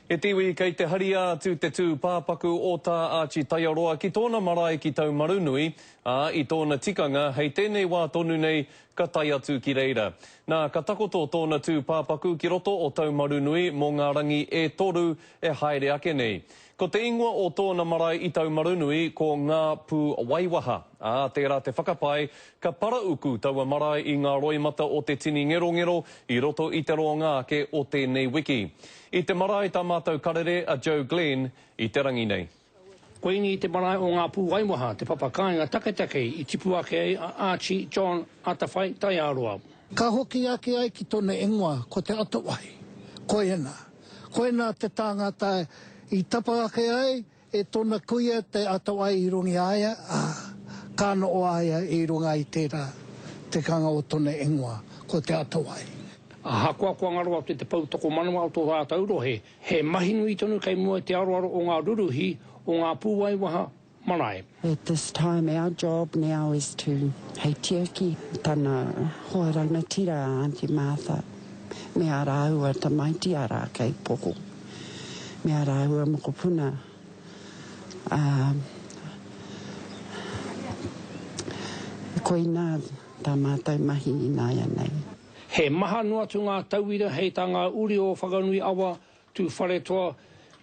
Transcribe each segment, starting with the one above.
E te iwi kei te haria atu te tū pāpaku o Tā Āti Taiaroa ki tōna marae ki Taumarunui, ā, i tōna tikanga hei tēnei wā tonu nei ka tae atu ki reira. Nā, ka takoto tōna tū pāpaku ki roto o Taumarunui mō ngā rangi e toru e haere ake nei. Ko te ingoa o tōna marae i Taumarunui ko Ngā Pū Waiwaha, ā, tērā te whakapae Ka parauku taua marae i ngā roimata o te tini ngerongero i roto i te roanga ake o tēnei wiki. I te marae tā mātou karere a Joe Glenn i te rangi nei. Koinei te marae o ngā pūwaimaha, te papa kāinga taketake i tipu ake ai a Archie, John, Atawhai, Taiaroa. Ka hoki ake ai ki tona ingoa ko Te Atawahi. Koiena. Koina te tāngata i tapa ake ai E tona kuia te ato ai i runga i a ia, a ka noo a ia i runga i tera te kanga o tona ingoa, ko te ato ai. Ahakoa kua ngaro atu te pou tokomanawa o tō rātou rohe, he mahi nui tonu kei mua i te aroaro o ngā ruruhi o ngā pūaiwaha marae. At this time our job now is to hei tiaki tana hoa rangatira a Aunty Martha me a rāua tamaiti ara kei poho me a rāua mokopuna a koina tā mātou mahi ināianei. He maha noa atu ngā tauira hei tā ngā uri o Whakanui Awa Tūwharetoa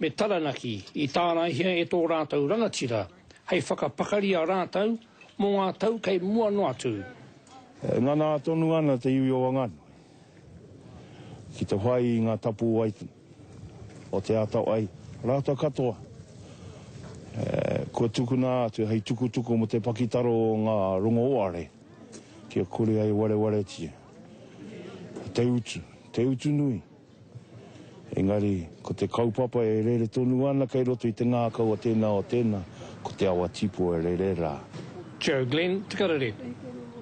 me Taranaki i tāraihia e tō rātou rangatira hei whakapakari a rātou mō ngā tau kei mua noa atu. E ngana tonu ana te iwi o Wanganui ki te whai i ngā tapu wai o Te Atawhai rātou katoa kua tukuna atu hei tukutuku mō te pakitaro o ngā rongoāre kia kore ai warewaretia te utu, te utu nui. Engari, ko te kaupapa e rere tonu ana kei roto i te ngākau a tēnā o tēnā, ko te awa Tipo e rere rā. Joe Glenn, Te Karere.